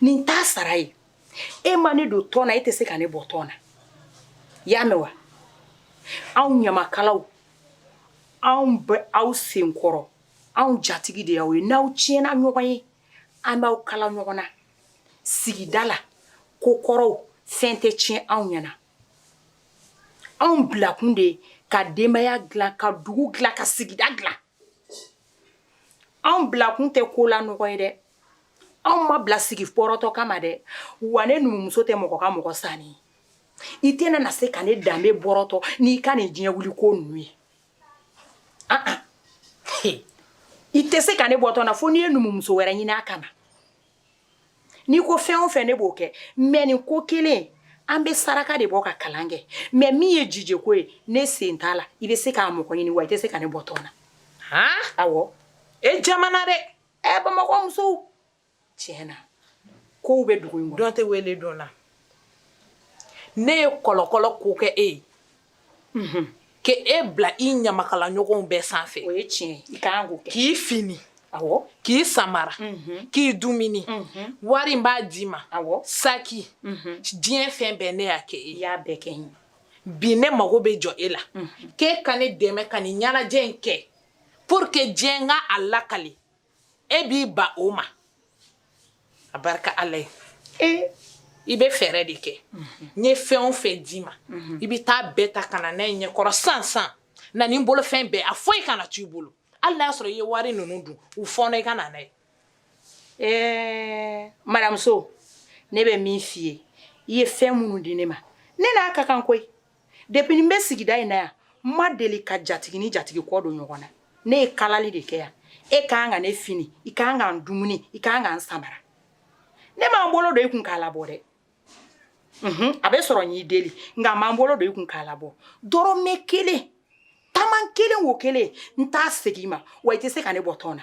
ni n t'a sara ye e ma ne don tɔn na e tɛ se ka ne bɔ tɔn na i y'a mɛn wa anw ɲamakalaw anw bɛ aw senkɔrɔ anw jatigi de y'aw ye n'aw tiɲɛna ɲɔgɔn ye an b'aw kala ɲɔgɔn na sigida la ko kɔrɔw fɛn tɛ tiɲɛ anw ɲɛna anw bilakun de ye ka denbaya dilan ka dugu dilan ka sigida dilan anw bilakun tɛ ko la nɔgɔ ye dɛ anw ma bila sigi bɔrɔtɔ kama dɛ wa ne numumuso tɛ mɔgɔ ka mɔgɔ sanni ye i tɛna na se ka ne danbe bɔrɔtɔ n'i ka nin diɲɛ wuli ko ninnu ye ah, ah. i tɛ se ka ne bɔ tɔn na fo n'i ye numumuso wɛrɛ ɲini a kama n'i ko fɛn o fɛn ne b'o kɛ mɛ nin ko kelen an bɛ saraka de bɔ ka kalan kɛ mɛ min ye jijeko ye ne sen t'a la i bɛ se k'a mɔgɔ ɲini wa i tɛ se ka ne bɔ tɔn na awɔ e jamana dɛ ɛ bamakɔ musow tiɲɛ na kow bɛ dugu in kɔnɔ dɔ tɛ wele dɔ la ne ye kɔlɔkɔlɔ ko kɛ e ye mhm. k'e bila i ɲamakala ɲɔgɔnw bɛɛ sanfɛ o ye tiɲɛ i ka kan k'o kɛ k'i fini k'i samara mhm. k'i dumuni mhm. wari n b'a d'i ma saki diɲɛ fɛn bɛɛ ne y'a kɛ e y'a bɛɛ kɛ n ye bi ne mago bɛ jɔ e la k'e ka ne dɛmɛ ka nin ɲɛnajɛ in kɛ pour que diɲɛ ka a lakali e b'i ban o ma a barika ala ye e i bɛ fɛɛrɛ de kɛ n ye fɛn o fɛn d'i ma i bɛ taa bɛɛ ta ka na n'a ye ɲɛkɔrɔ sansan na ni n bolofɛn bɛɛ a foyi kana to i bolo hali n'a y'a sɔrɔ i ye wari ninnu dun u fɔɔnɔ i ka na n'a ye ɛɛ madamu so ne bɛ min f'i ye i ye fɛn minnu di ne ma ne n'a ka kan koyi depuis n bɛ sigida in na yan n ma deli ka jatigi ni jatigi kɔ don ɲɔgɔn na ne ye kalali de kɛ yan e ka kan ka ne fini i ka kan ka n dumuni i ka kan ka n samara ne ma n bolo don i kun k'a labɔ dɛ unhun a bɛ sɔrɔ n y'i deli nka n ma n bolo don i kun k'a labɔ dɔrɔmɛ kelen taman kelen wo kelen n t'a segin i ma wa i tɛ se ka ne bɔ tɔn na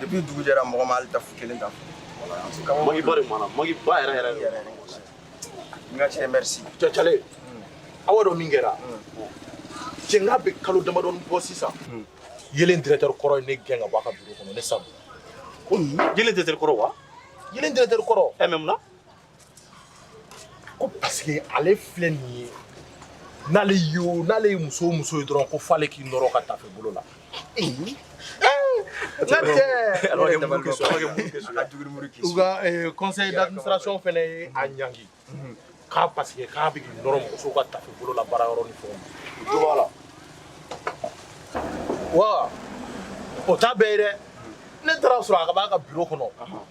depuis dugu jɛra mɔgɔ ma hali tafu kelen ta magi ba de mana magi ba yɛrɛ yɛrɛ yɛrɛ n ka cɛ merci cɛcale aw y'a dɔn min kɛra cɛ n k'a bɛ kalo damadɔni bɔ sisan yelen directeur kɔrɔ ye ne gɛn ka bɔ a ka biro kɔnɔ ne sabu yelen directeur kɔrɔ wa yelen directeur kɔrɔ ɛ mɛ mun na ko paseke ale filɛ nin ye n'ale ye o n'ale ye muso o muso ye dɔrɔn ko f'ale k'i nɔrɔ ka tafe bolo la u ka eh, conseil d'administration fana ye a ɲangi k'a paseke k'a bɛ k'i nɔrɔ muso ka tafe bolo la baara yɔrɔ ni fɛnw na jo b'a la wa o t'a bɛɛ ye dɛ ne taara a sɔrɔ a ka b'a ka biro kɔnɔ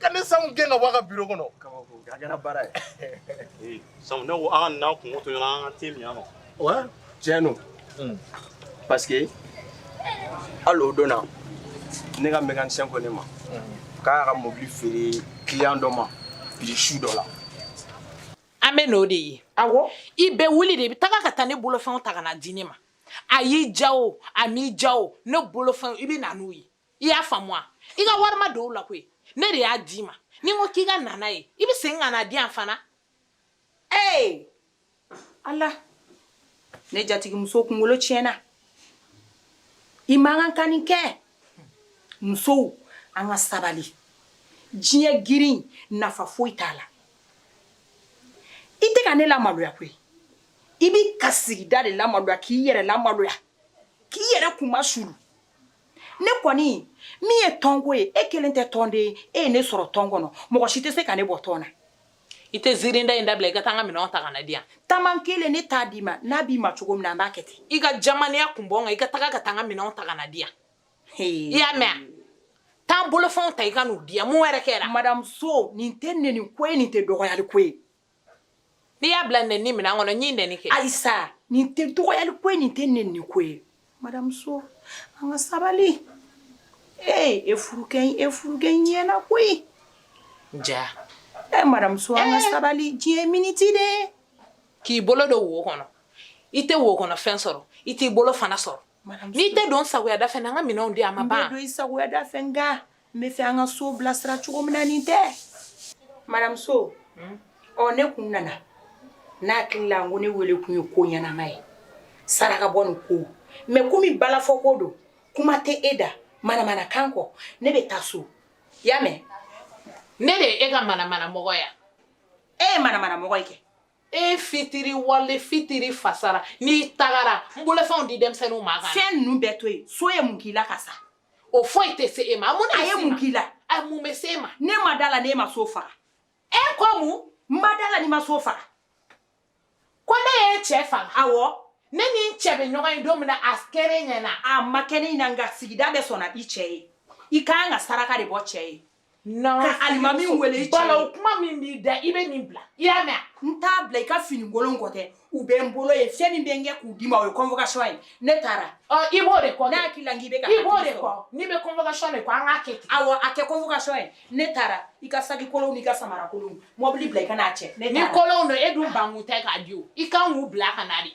ka ne Sam gɛn ka bɔ a ka biro kɔnɔ a kɛra baara ye Sam ne ko an ka n'an kunko to ɲɔgɔn an ka te min yan nɔ ouais tiɲɛ don hmm. parce que hali o don na ne ka mécanicien ko ne ma hmm. k'a y'a ka mobili feere client dɔ ma prix su dɔ la an bɛ n'o de ye awɔ i bɛ wuli de i bɛ taga ka taa ne bolofɛnw ta ka na di ne ma a y'i ja o a m'i ja o ne bolofɛnw i bɛ na n'u ye i y'a faamu wa i ka wari ma don o la koyi ne de y'a d'i ma ni n ko k'i ka na n'a ye i bɛ segin ka na di yan fana ee ala ne jatigimuso kunkolo tiɲɛna i man kan ka nin kɛ musow an ka sabali diɲɛ girin nafa foyi t'a la i tɛ ka ne lamaloya koyi i bɛ ka sigida de lamaloya k'i yɛrɛ lamaloya k'i yɛrɛ kunmasuuli ne kɔni min ye tɔnko ye e kelen tɛ tɔnden ye e ye ne sɔrɔ tɔn kɔnɔ mɔgɔ si tɛ se ka ne bɔ tɔn na i tɛ ziirinda in dabila i ka taa n ka minɛnw ta ka na di yan taman kelen ne t'a d'i ma n'a b'i ma cogo min na an b'a kɛ ten i ka jamaniya kun bɔ n kan i ka taga ka taa n ka minɛnw ta ka na di yan i y'a mɛn wa taa n bolofɛnw ta i ka n'u di yan mun wɛrɛ kɛra madame So nin tɛ nɛni ko ye nin tɛ dɔgɔyali ko ye n'i y'a bila nɛni minɛn kɔnɔ n ye nɛni kɛ ayisa nin tɛ dɔgɔyali ko ye nin tɛ nɛni ko ye madame So an ka sabali ee e furukɛ e furukɛ ɲɛna koyi ja ee madame So an ka eh. sabali diɲɛ miniti de k'i bolo don wo kɔnɔ i tɛ wo kɔnɔ fɛn sɔrɔ i t'i bolo fana sɔrɔ n'i tɛ don sagoyada fɛ an ka minɛnw di an ma ban i bɛ don i sagoyada fɛ nka n b'a fɛ an ka so bilasira cogo min na nin tɛ madame So ɔ ne kun nana n'a hakili la n ko ne wele kun ye ko ɲɛnama ye sarakabɔ nin ko mais komi balafɔ ko don kuma tɛ e da manamana kan kɔ ne bɛ taa so i y'a mɛn ne de ye e ka manamana mɔgɔ yan e ye manamana mɔgɔ ye kɛ e fitiriwale fitiri fasara n'i tagara n bolofɛnw di denmisɛnninw ma kan fɛn ninnu bɛɛ to yen so ye mun k'i la ka sa o foyi tɛ se e ma mun a ye mun k'i la a mun bɛ se e ma ne ma d'a la n'e ma so faga e ko mun n ma d'a la n'i ma so faga ko ne ye cɛ faga awɔ ne ni n cɛ bɛ ɲɔgɔn ye don min na a kɛra e ɲɛ na a ma kɛ ne ɲɛ na nka sigida bɛɛ sɔnna i cɛ ye i ka kan ka saraka de bɔ cɛ ye alimami wele i cɛ o kuma min b'i da i bɛ nin bila i y'a mɛn n t'a bila i ka finikolon ko tɛ u bɛ n bolo yen fɛn min bɛ n kɛ k'u d'i ma o ye convocation ye ne taara i b'o de kɔ ne hakili la n k'i bɛ ka i b'o de kɔ n'i bɛ convocation de kɔ an k'a kɛ ten awɔ a kɛ convocation ye ne taara i ka saki kolonw n'i ka samara kolonw mɔbili bila i ka n'a cɛ ni kolonw don e dun bankun tɛ k'a di o i kan k'u bila ka na de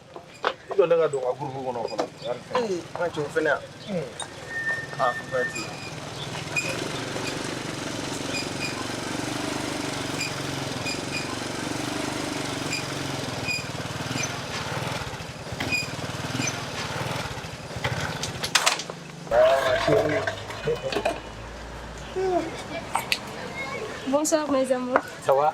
i jɔ ne ka don n ka gurupu kɔnɔ fɔlɔ an cɛw fɛnɛ yan a fɛ ti Bonsoir mes amours. Ça va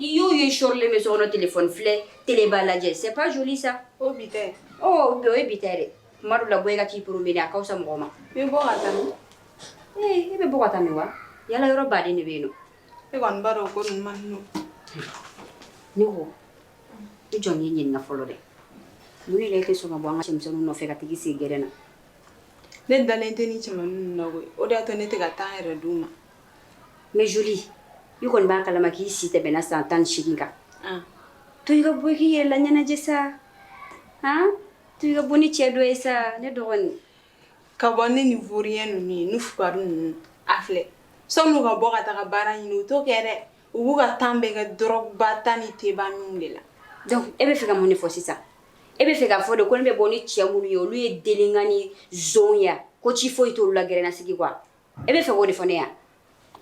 I y'o ye sɔrilen bɛ so kɔnɔ téléphone filɛ télé ba lajɛ c'est pas joli ça o bi ta ye ɔ o ye bi ta ye dɛ tuma dɔw la bɔ i ka t'i promener a ka fisa mɔgɔ ma n bɛ bɔ ka taa min ee i bɛ bɔ ka taa min wa yala yɔrɔ baden de bɛ yen nɔ e kɔni b'a dɔn o ko ninnu man di ne ye ne ko i jɔ n y'i ɲininka fɔlɔ dɛ mun de la i tɛ sɔn ka bɔ an ka cɛmisɛnninw nɔfɛ ka t'i sigi gɛrɛn na ne dalen tɛ nin cɛmannin ninnu na koyi o de y'a to ne tɛ ka taa n yɛrɛ d'u ma mais Jolie i kɔni b'a kalama k'i si tɛmɛna san tan ni seegin kan, an, to i ka bɔ i k'i yɛrɛ laɲɛnajɛ sa, an, to i ka bɔ ni cɛ dɔ ye sa ne dɔgɔnin, ka bɔ ni nin vaurien ninnu ye ni fugari ninnu, a filɛ sɔni u ka bɔ ka taa baara ɲini u t'o kɛ dɛ, u b'u ka temps bɛɛ kɛ drogue ba ta ni te ba min de la, donc e bɛ fɛ ka mun de fɔ sisan, e bɛ fɛ k'a fɔ de ko ne bɛ bɔ ni cɛ minnu ye olu ye délinquant ni nson ye wa, ko ci foyi t'olu la gɛrɛnnasigi kɔ wa, e bɛ fɛ k'o de fɔ ne ye wa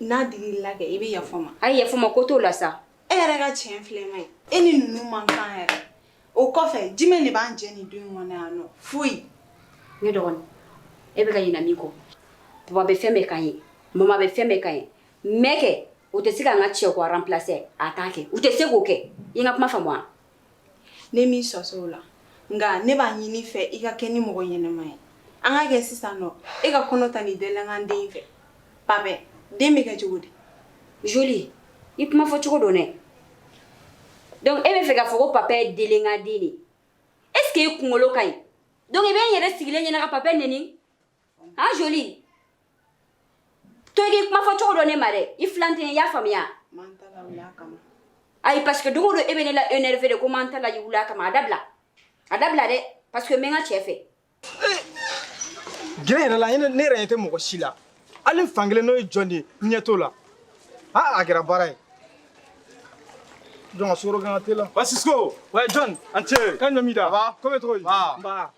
n'a digir'i la kɛ i bɛ yafa n ma a ye yafa n ma ko t'o la sa e yɛrɛ ka tiɲɛ filɛ ma ye e ni ninnu man kan yɛrɛ o kɔfɛ jumɛn de b'an jɛ nin du kɔnɔ yan nɔ foyi ne dɔgɔnin e bɛ ka ɲinɛ min kɔ papa bɛ fɛn bɛɛ k'an ye mama bɛ fɛn bɛɛ k'an ye mais kɛ o tɛ se k'an ka cɛko remplacer a t'a kɛ u tɛ se k'o kɛ i n ka kuma faamu wa ne m'i sɔsɔ o la nka ne b'a ɲini i fɛ i k'a kɛ ni mɔgɔ ɲɛnɛma ye an k'a kɛ sisan nɔ e ka kɔnɔ ta nin délinquant den fɛ Papɛ den bɛ kɛ cogo di Jolie i kuma fɔ cogo dɔn dɛ donc e bɛ fɛ k'a fɔ ko Papɛ ye délinquant den de est ce que e kunkolo ka ɲi donc i bɛ n yɛrɛ sigilen ɲɛna ka Papɛ neni han Jolie to i k'i kuma fɔ cogo dɔn ne ma dɛ i filan tɛ i y'a faamuya ayi parce que don o don e bɛ ne la énervé de ko m'an ta la i wuli a kama a dabila a dabila dɛ parce que n bɛ n ka cɛ fɛ gɛrɛ yɛrɛ la ne ne yɛrɛ ɲɛ tɛ mɔgɔ si la hali n fankelen n'o ye jɔn de ye n ɲɛ t'o la a a kɛra baara ye jɔn ka sukaro k'an ka te la wa sisko wa jɔn an cɛ kan ɲɔ mi da ko bɛ cogo di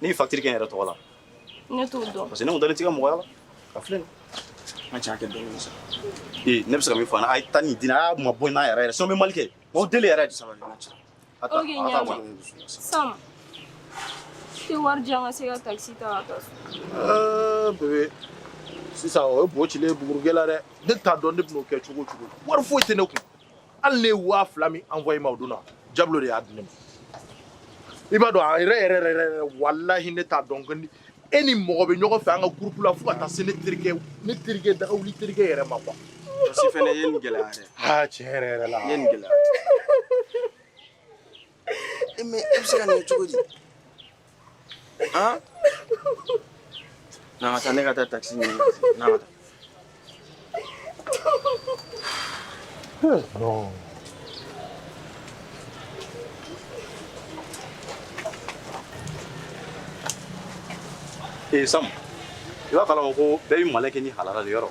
Ne bɛ facture kɛ n yɛrɛ tɔgɔ la ne t'o dɔn parce que ne dalen t'i ka mɔgɔya la ka filɛ n ka cɛ a kɛ dɔɔnin sa ee ne bɛ se ka min fɔ a ye tan ni dina a mabɔ n na yɛrɛ yɛrɛ sinon n bɛ mali kɛ o deli yɛrɛ de sabali ok ɲaama Sam i tɛ wari di yan n ka se ka takisi ta ka taa so bebe sisan o ye bo cilen ye bugurijɛ la dɛ ne t'a dɔn ne bɛn'o kɛ cogo o cogo wari foyi tɛ ne kun hali ne ye waa fila min envoyé ma o don na Diablo de y'a di ne ma i b'a dɔn a yɛrɛ yɛrɛ yɛrɛ yɛrɛ walahi ne t'a dɔn ko ni e ni mɔgɔ bɛ ɲɔgɔn fɛ an ka groupe la fo ka taa se ne terikɛ ne terikɛ dagawuli terikɛ yɛrɛ ma quoi Jɔsi fɛnɛ ye nin gɛlɛya dɛ aa tiɲɛ yɛrɛ yɛrɛ la i ye nin gɛlɛya E mais e bɛ se ka nin kɛ cogo di? An! Na an ka taa ne ka taa taxi ɲini, na an ka taa. Hee non! Ee Sam, i b'a kalama ko bɛɛ bɛ malin kɛ n'i halala de ye yɔrɔ?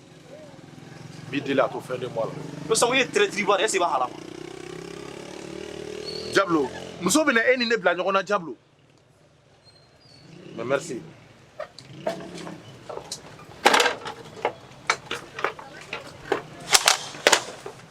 Bi deli a to fɛn de bɔ la ko sabu ye ttiriri bɔ e se hala ja muso bɛ e ni ne bila ɲɔgɔn na ja mɛ se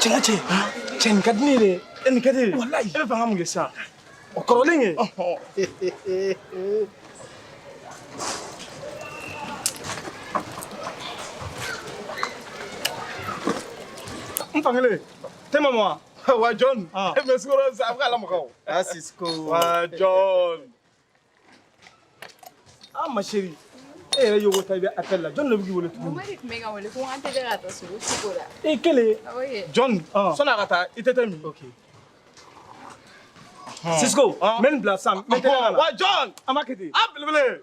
Cɛ ka cɛ cɛ nin ka di ne ye dɛ e nin ka di ye walayi e bɛ fɛ an ka mun kɛ sisan o kɔrɔlen kɛ n fankelen te ma mɔ wa wa Jɔn e bɛ sukaro sa a bɛ k'a lamaga wa Cisco wa Jɔn An ma chérie e yɛrɛ ye ta i bɛ appel la jɔn de b'i wele tuguni Mama de tun bɛ ka wele ko an tɛ ka taa sogo sugu la i kelen Jɔn sɔnni a ka taa i tɛ te min Cisco n bɛ nin bila sisan n bɛ teliya ka na wa Jɔn an b'a kɛ ten a belebele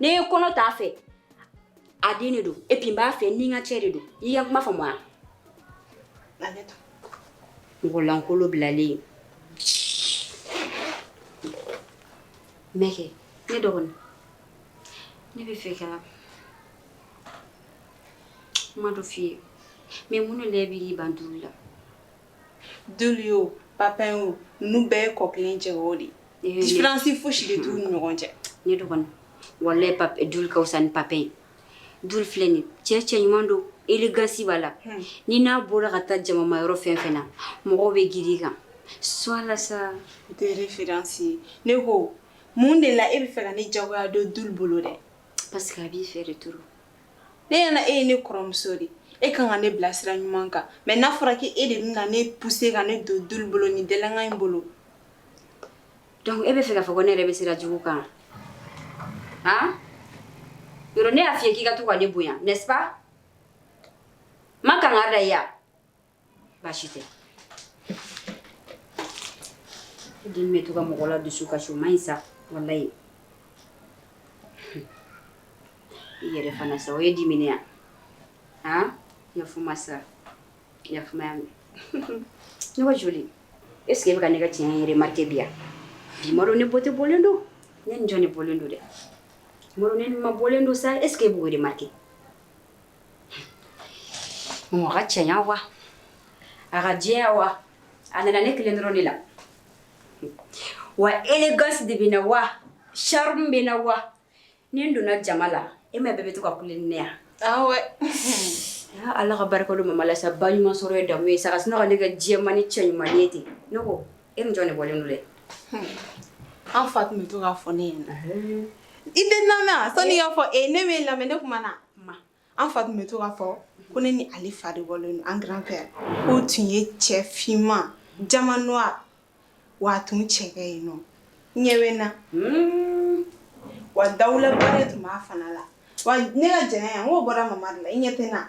ne ye kɔnɔ t'a fɛ a den de don et puis n b'a fɛ ni n ka cɛ de don i ka kuma faamu wa mɔgɔ lankolo bilalen mɛkɛ ne dɔgɔnin ne bɛ fɛ ka kuma dɔ f'i ye mais mun de la i b'i ban Dulu la Dulu o Pap o nin bɛɛ ye kɔ kelen cɛ o de différence fosi de t'u ni ɲɔgɔn cɛ ne dɔgɔnin walahi Pap Dulu ka wusa ni Pap ye Dulu filɛ nin cɛ cɛ ɲuman don élégance b'a la ni n'a bɔra ka taa jamama yɔrɔ fɛn fɛn na mɔgɔw bɛ girin i kan sola sa tɛsi ne ko mun de la e bɛ fɛ ka ne jagoya don Dulu bolo dɛ parce que a b'i fɛ de to ne ɲɛna e ye ne kɔrɔmuso de e kan ka ne bila sira ɲuman kan mais n'a fɔra k'e de bɛna ne pousser ka ne don Dulu bolo ni délinquant in bolo donc e bɛ fɛ k'a fɔ ko ne yɛrɛ bɛ sira jugu kan a yɔrɔ ne y'a f'i ye k'i ka to ka ne bonya n'est-ce pas ma kan ka dan yan baasi tɛ den bɛ to ka mɔgɔ la dusukasi o man ɲi sa walayi i yɛrɛ fana sa o ye dimi ne yan yafa n ma sa yafa n ma ya ne ka joli eseke e bɛ ka ne ka cɛɲa remarqué bi yan ne ma dɔn ne bɔ tɛ bɔlen don ne ni jɔn de bɔlen don dɛ n ma dɔn ne ni ma bɔlen don sa eseke e b'o remarqué Mɔgɔ ka cɛɲa wa a ka jɛya wa a nana ne kelen dɔrɔn de la wa élégance de bɛ n na wa charme bɛ n na wa ni n donna jama la e ma bɛɛ bɛ to ka kule ne yan ala ka barika don mama la sa ba ɲuman sɔrɔ ye damu ye sa ka sun ka ne ka jɛmanin cɛ ɲuman ye ten ne e ni jɔn de bɔlen don dɛ an fa tun bɛ to k'a fɔ ne ɲɛ na i tɛ lamɛn sani i k'a fɔ e ne bɛ lamɛn ne kuma na ma an fa tun bɛ to k'a fɔ ko ne ni ale fa de bɔlen don an grand-père k'o tun ye cɛ finman diamant noir wa a tun cɛ ka ɲi nɔ i ɲɛ bɛ n na hmm. wa dawulaba de tun b'a fana la wa ne ka jɛlenya n k'o bɔra mama de la i ɲɛ tɛ n na